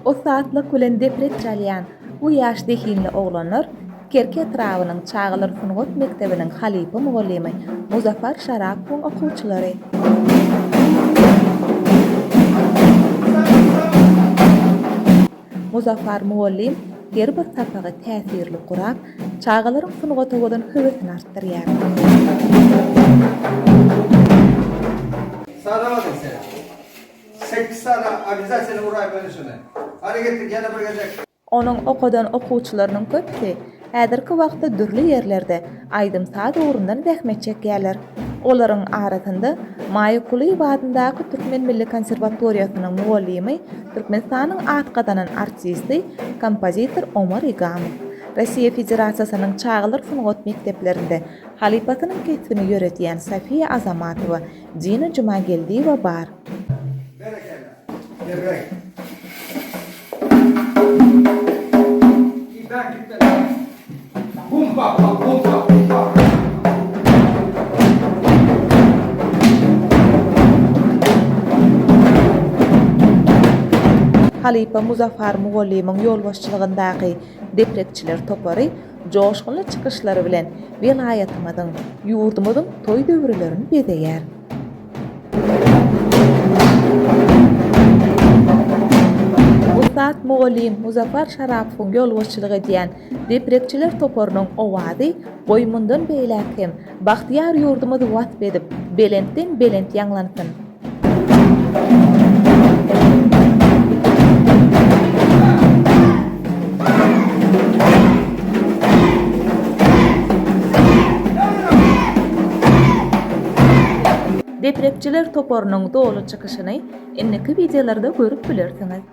Ussatlyk bilen depret çalýan bu ýaş zehinli oglanlar Kerki etrabynyň çagalar sungat mekdebiniň halypa mugallymy Muzaffar Şarapowyň okuwçylary. Muzaffar mugallym her bir sapagy täsirli gurap, çagalaryň sungata bolan höwesini artdyrýar. Salam ise. Sekiz sala obýazatýony uraý meni şuny. Hany getir ýene bir gezek. Onuň okadan okuwçylarynyň köpüsi häzirki wagtda dürli ýerlerde aýdym-saz ugrundan zähmet çekýärler. Olaryň arasynda Maýa Kulyýewa adyndaky Türkmen milli konserwatoriýasynyň mugallymy, Türkmenistanyň at gazanan artisti, kompozitor Omar Igamow, Rossiýa Federasiýasynyň çagalar sungat mekdeplerinde halypasynyň kesbini ýöredýän Sofiýa Azamatowa, Dina Jumageldiýewa bar. Berekella. Berreý. Tizden gitmeli. Bum bap bap bum bap bum bap. Halypa Muzaffar mugallymyň ýolbaşçylygyndaky deprekçiler topary joşgunly çykyşlary bilen welaýatymyzyň, ýurdumyzyň toý döwürlerini bezeýär. Ussat mugallym Muzaffar Şarapowyň ýolbaşçylyk edýän deprekçiler toparynyň owazy goý mundan beýläk hem bagtyýar ýurdumyzy wasp edip, belentden-belent ýaňlansyn! Deprepçiler toparynyň doly çykyşyny indiki wideolarda görüp bilersiňiz.